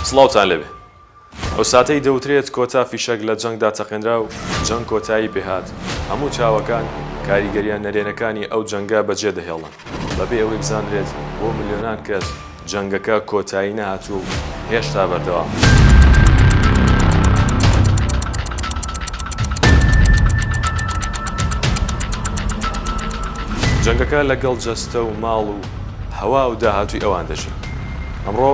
سڵاوتان لێبێ. ئەو ساتەی دەوترێت کۆتا فیشەک لە جەنگدا تەقێنرا و جەنگ کۆتایی پێهات، هەموو چاوەکان کاریگەرییە نەرێنەکانی ئەو جەنگە بەجێدەهێڵن، بەبێ ئەوەی بزاندرێت بۆ ملیۆنان کەس جەنگەکە کۆتایی نەهاتووە و هێشتا بەردەوامە. جەنگەکە لەگەڵ جەستە و ماڵ و هەوا و داهاتووی ئەوان دەژی. ئەمڕۆ.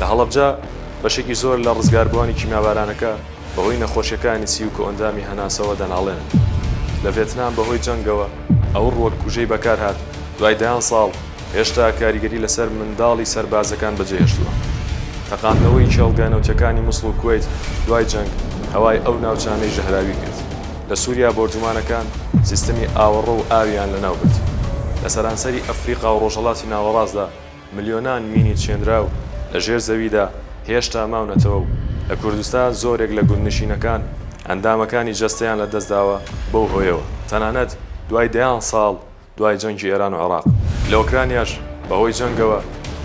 لە هەڵەبجە بەشێکی زۆر لە ڕزگاربووانی کیمیابارانەکە بەهۆی نەخۆشیەکانی سی و کۆئەندامی هەناسەوە دەناڵێنن. لە ڤێتنام بەهۆی جەنگەوە ئەو ڕووەک کوژەی بەکارهات دوای دەیان ساڵ هێشتا کاریگەری لەسەر منداڵی سەربازەکان بەجێهێشتووە. تەقاندنەوەی کێڵگە نەوتیەکانی موسڵ و کوەیت دوای جەنگ هەوای ئەو ناوچانەی ژەهراوی کرد. لە سوریا بۆردومانەکان سیستمی ئاوەڕۆ و ئاویان لەناوبرد. لە سەرانسەری ئەفریقا و ڕۆژهەڵاتی ناوەڕاستدا ملیۆنان مینی چێنراو لە ژێر زەویدا هێشتا ماونەتەوە و لە کوردستا زۆرێک لە گوندنشینەکان ئەندامەکانی جەستەیان لە دەستداوە بەو هۆیەوە تەنانەت دوای دەیان ساڵ دوای جەنگی ئێران و عێراق لە ئۆکرانیاش بە هۆی جەنگەوە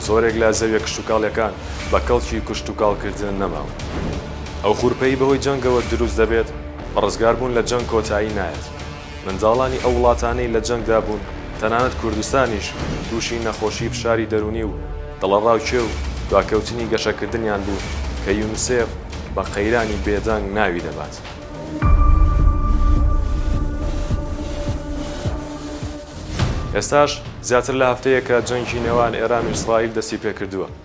زۆرێک لە زەویە کشتوکاڵیەکان بە کەڵکی کوشتوکاڵ کردن نەماون ئەو خورپەی بەهۆی جەنگەوە دروست دەبێت بە ڕزگار بوون لە جەنگ کۆتایی نایەت. منداڵانی ئەو وڵاتانەی لە جەنگدا بوون، تەنانەت کوردستانیش تووشی نەخۆشی فشاری دەروونی و دڵەڕاوکێ و دواکەوتنی گەشەکردنیان بوو کە یونسێف بە قەیرانی بێدەنگ ناوی دەبات. ئێستاش زیاتر لە هەفتەیەکە جەنگی نێوان ئێران و ئیسرائیل دەستی پێکردووە.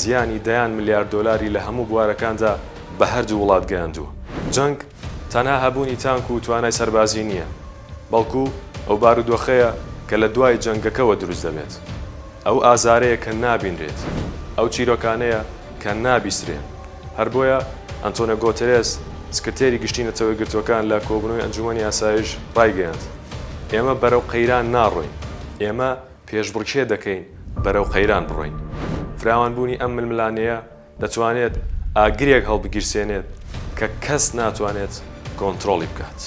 زیانی دەیان ملیار دۆلاری لە هەموو بوارەکاندا بە هەردوو وڵات گەیاندووە. جەنگ تەنها هەبوونی تانک و توانای سەربازی نییە، بەڵکو ئەو بارودۆخەیە کە لە دوای جەنگەکەوە دروست دەبێت، ئەو ئازارەیە کە نابینرێت، ئەو چیرۆکانەیە کە نابیسترێن. هەر بۆیە ئەنتۆنیۆ گۆتێرێس، سکرتێری گشتی نەتەوە یەکگرتووەکان لە کۆبوونەوەی ئەنجوومەنی ئاسایش ڕایگەیاند، ئێمە بەرەو قەیران ناڕۆین، ئێمە پێشبڕکێ دەکەین بەرەو قەیران بڕۆین. فراوانبوونی ئەم ململانێیە دەتوانێت ئاگرێک هەڵبگیرسێنێت کە کەس ناتوانێت کۆنترۆڵی بکات.